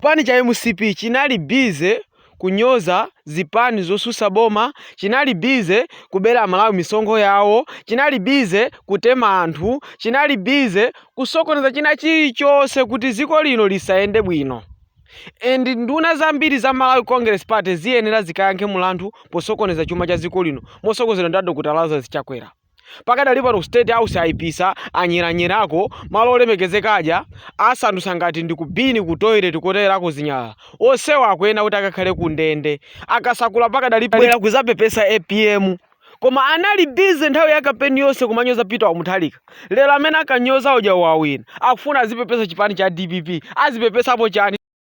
Chipani cha mcp chinali busy kunyoza zipani zosusa boma, chinali busy kubela amalawi misonkho yawo, chinali busy kutema anthu, chinali busy kusokoneza china chilichose kuti ziko lino lisayende bwino and nduna zambiri za Malawi congress party ziyenera zikayankhe mulandu posokoneza chuma cha ziko lino mosogozedwa ndi a Dr Lazarus Chakwera. pakadali pano ku state house ayipisa anyeranyerako malo olemekezeka aja asandutsa ngati ndi ku bini ku toilet koterako zinyalala onsewa akuyenera kuti akakhale ku ndende akasakula pakadali akuzapepesa apm koma anali bize nthawi ya kampeni yonse kumanyoza peter wamuthalika lero amene akanyoza uja wawina akufuna azipepesa chipani cha dpp azipepesapo chani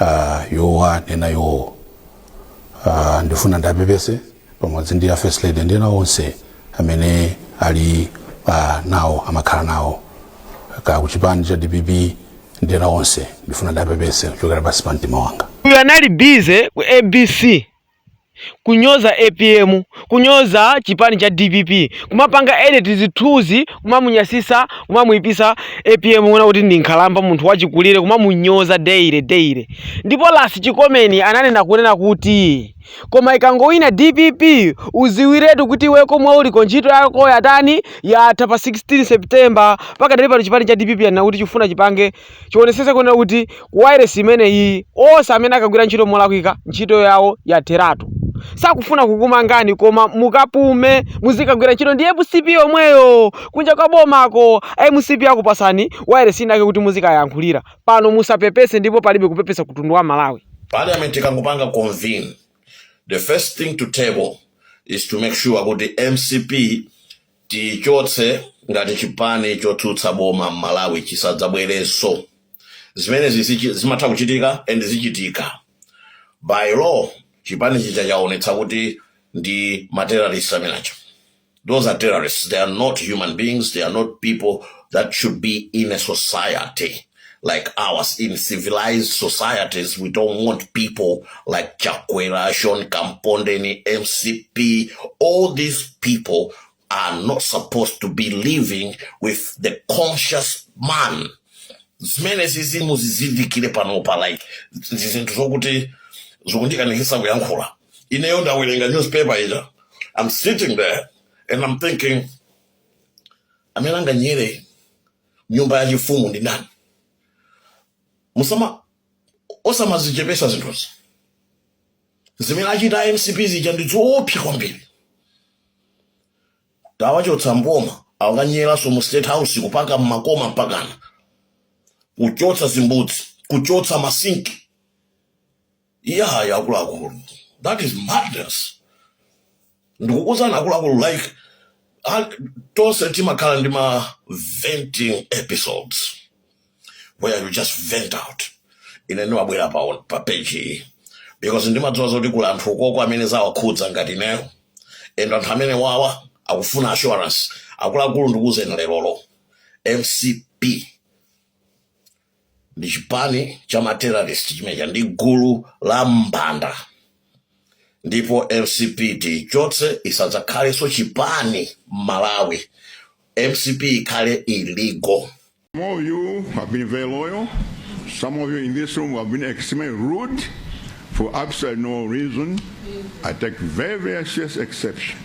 uh, yowa nena yowo uh, ndifuna ndiapepese pamodzi ndi a first lady ndi ena onse amene ali uh, nawo amakhala nawo ka kuchipani cha dpp ndi ena onse ndifuna ndipepese kuchokera pansi pa mtima wanga uyu anali bize ku abc kunyoza apm kunyoza chipani cha dpp kumapanga edit zithunzi kumamunyasisa kumamuipisa apm kuona kuti ndi nkhalamba munthu wachikulire kumamunyoza daily daily ndipo last Chikomeni ananena kunena kuti koma ikangowina dpp uziwiretu kuti iwe komwe uliko ntchito yako yatani yatha pa 16 september pakadali pano chipani cha dpp anena kuti chifuna chipange chionesese kunena kuti ku wailesi imeneyiyi onse amene akagwira ntchito molakwika ntchito yawo yatheratu sakufuna kukumangani koma mukapume muzikagwira ntchito ndi mcp yomweyo kunja kwa bomako mcp akupasani wailesi inake kuti muzikayankhulira pano musapepese ndipo palibe kupepesa kutundu wa malawi parliament ikangopanga convene the first thing to table is to make sure kuti mcp Tiichotse ngati chipani chotsutsa boma mmalawi chisadzabwerenso. Zimenezi zimatha kuchitika and zichitika. By law chipani chija chaonetsa kuti ndi ma terrorist amene aja. Those are terrorists, they are not human beings, they are not people that should be in a society. like ours in civilized societies we don't want people like chakwera sean kampondeni mcp all these people are not supposed to be living with the conscious man zimenezi zimu zizindikire panopa like ndi zinthu zokuti zikundikanikisa kuyankhula ineyo ndawerenga newspaper ija i'm sitting there and i'm thinking amene anganyere nyumba yachifumu ndi ndani musama osamazichepesa zinthuzi zimene achita a mcp zija ndi zoopsa kwambiri tawachotsa m'boma akanyeranso mu state house kupaka mmakoma mpakana kuchotsa zimbudzi kuchotsa masinki iyayi akuluakulu that is madness ndikukuuzani akuluakulu like a- tonse timakhala ndi ma venting episodes where you just vent out ine ndimabwera pa, pa page iyi because ndimadziwa zoti kuli anthu ukoko amene zawakhudza ngati ineyo and anthu amene wawa akufuna assurance akuluakulu ndikuuzeni lerolo mcp ndi chipani cha ma terrorist chimene chija ndi gulu la mbanda ndipo mcp tiichotse isadzakhalenso chipani m'malawi mcp ikhale illegal Some of you have been very loyal. Some of you in this room have been extremely rude for absolutely no reason. I take very, very serious exception.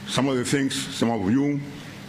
Some of the things some of you